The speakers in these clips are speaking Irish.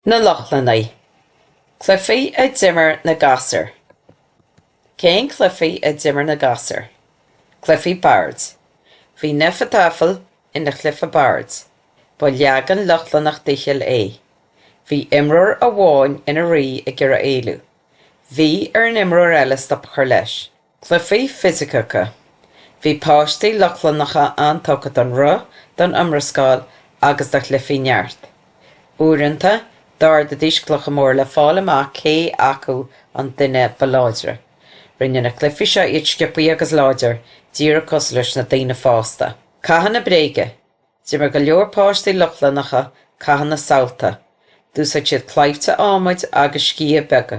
Na Lochlannaigh, Cluifí a d'imir na gasúir. Cén cluifí a d'imir na gasúir? Cluifí Boird. Bhí Hnefatafl ina chluife boird. Ba leagan Lochlannach d'fhicheall é. Bhí imreoir amháin ina rí ag iarraidh éalú. Bhí ar an imreoir eile stop a chur leis. Cluichí fisiceacha, Bhí páistí Lochlannacha an-tugtha don rith, don iomrascáil agus do chluichí neart. Uaireanta, d'ardaidís clocha móra le fáil amach cé acu an duine ba láidre. Rinne na cluichí seo iad sciopthaí agus láidir, díreach cosúil leis na daoine fásta. Cathanna bréige, D'imir go leor páistí Lochlannacha cathanna samhalta. D'úsáid siad claimhte adhmaid agus sciatha beaga.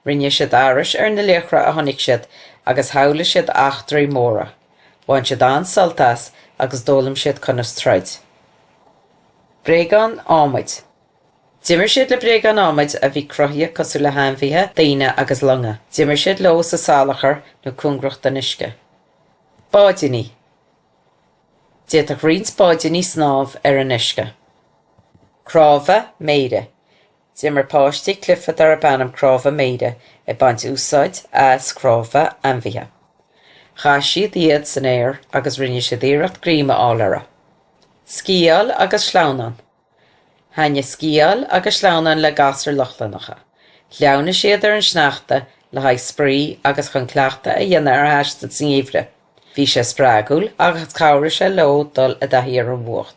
Rinne siad aithris ar na laochra a chonaic siad agus shamhlaigh siad eachtraí móra. Bhain siad an-sult as agus d'fhoghlaim siad conas troid. Bréagáin Adhmaid. D'imir siad le bréagáin adhmaid a bhí cruthaithe cosúil le hainmhithe, daoine agus longa. D'imir siad leo sa salachar nó cóngarach don uisce. Báidíní. D'fhéadfadh roinnt báidíní snámh ar an uisce. Cnámha Méire. D'imir páistí cluife darb ainm Cnámha Méire ag baint úsáid as cnámha ainmhithe. Chaith siad iad san aer agus rinne siad iarracht greim a fháil orthu. Sciáil agus Sleamhnán. Thaithnigh Sciáil agus Sleamhnán le gasúir Lochlannacha. Shleamhnaigh siad ar an sneachta le haghaidh spraoi agus chun cleachtadh a dhéanamh ar thaisteal sa ngeimhreadh. Bhí sé spreagúil agus chabhraigh sé leo dul i dtaithí ar an bhfuacht.